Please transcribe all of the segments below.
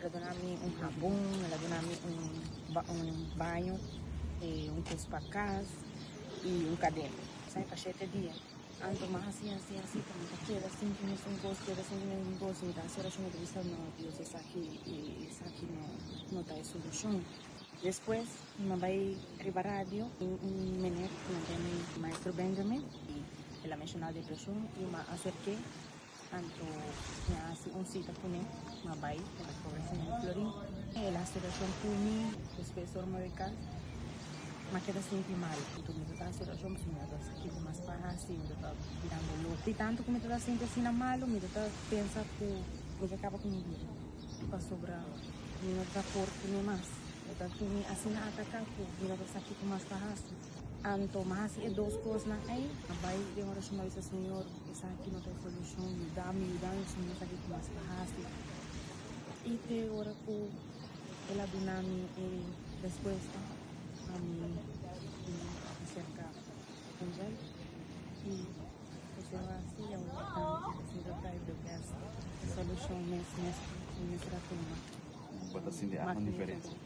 El a duna mi un habon, el a duna mi un un baño, e un cos pa cas y un cadena. Sa pa shete dia anto mas asi asi asi ta mi ta keda sin ku mes un cos, keda sin ku mes un cos. Mi ta haci oracion mi ta bisa no Dios esaki esaki no no ta e solucion. Despues mi a bay riba radio tin un meneer ku nan duna mi Maestro Benjamin y el a menciona depresion y mi a acerke. Anto mi a hasi un cita cu ne, mi a bay pa ta conversa cu Florin. El a hasi oracion cu mi, despues ora mi a bay cas, mi a keda sinti mal. Anto mi ta ta hasi oracion pasobra mi a ta esaki cu mas pa hasi y mi ta ta birango loco. Di tanto cu mi ta ta sinti asina malo, mi ta ta pensa cu mi ke caba cu mi bida, pasobra mi no ta por cu ne mas. Mi ta tumi asina ataca cu mi no ta esaki cu mas pa hasi. Anto mas e dos kosnan ei, a bai den orashon a bisa, Señor, esaki no ta e solushon, yuda mi, yuda mi pasobra mi no sabi ki mas pa hasi. I te ora ku el a duna mi e respuesta, ami bin aserka Angel i kuse lo hasi a wak nan di ke Señor ta e the best solushon mes mes mes rato. Bo ta sinti algu diferensia?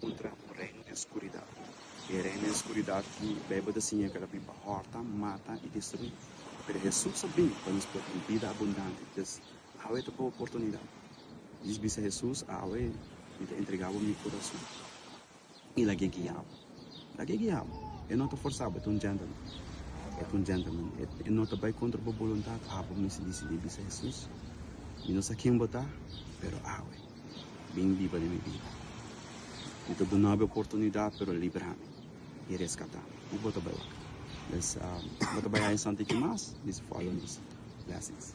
Kontra un reino den skuridat. E reino den skuridat ki Beibel ta siña ke ta bin pa hòrta, mata i destruí. Pero Hesus a bin pa nos porta un bida abundante. Pues, awe ta bo oportunidat. Dij bisa Hesus, Awe mi ta entregá bo mi kurason. I lag'é guia bo. Lag'é guia bo. E no ta forsá bo, e ta un gentleman. E ta un gentleman. E no ta bai kontra bo boluntat. Abo mester disidí bisa Hesus, Mi no sa ken bo ta, pero awe. Bin biba den mi bida. Mi ta dunado e oportunidad pero librami y rescatami. Y bo ta bai wak. Pues bo ta bai aña santa y ki mas mi sa follow nos. Blessings.